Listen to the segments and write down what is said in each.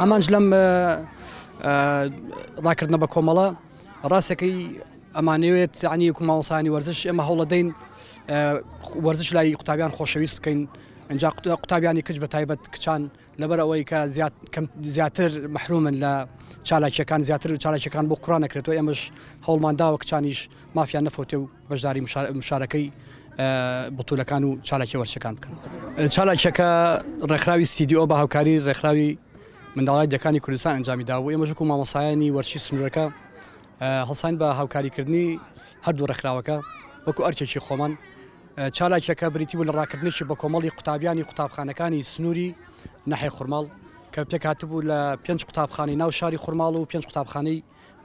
ئامانج لەم ڕاکردنە بە کۆمەڵە ڕاستەکەی ئەمانەوێت عنی کوماوەسانی وەرزش ئێمە هەوڵەدەین وەرزش لای قوتابیان خۆشەویست بکەین ئەجا قوتابیانی کچ بە تایبەت کچان لەبەر ئەوەی کە زیاتر محرومن لە چالاکیەکان زیاتر و چالاکیەکان بۆ قڕان نەکرێتەوە ئەمەش هەوڵمانداوە کچانیش مافیان نەفوتێ و بەشداری مشارەکەی بتولەکان و چالاکی وەرچەکان بکەن چالاکیەکە ڕێکخراوی سیدیۆ بە هاوکاری ڕێکخراوی منداڵای دەکانی کوردستان ئەنجامی داوە ئێمەژکو مامەسایانی وەرچی سنوورەکە هەڵسان بە هاوکاریکردنی هەردوو ڕێکخراوەکە وەکو ئەرچێکی خۆمان چالاکیەکە بریتی بوو لە ڕاکردنێکی بەکۆمەڵی قوتابیانی قوتابخانەکانی سنووری ناحێ خورماڵ کە پێکهاتبوو لە پێنج قوتابخانەی ناو شاری خورماڵ و پێنج قوتابخانەی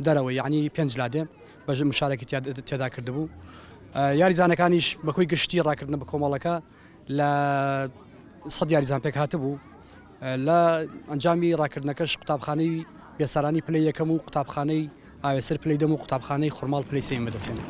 دەرەوە یعنی پێنج لادێ بەژ مشارەکی تێدا کردبوو یاریزانەکانیش بەکۆی گشتی ڕاکردنە بە کۆمەڵەکە لە سەد یاریزان پێکهاتبوو لە ئەنجامی ڕاکردنەکەش قوتابخانەی بێسارانی پلەی یەکەم و قوتابخانەی ئاوێسەر پلەی دەم و قوتابخانەی خورماڵ پلەی سێم بەدەستێنم.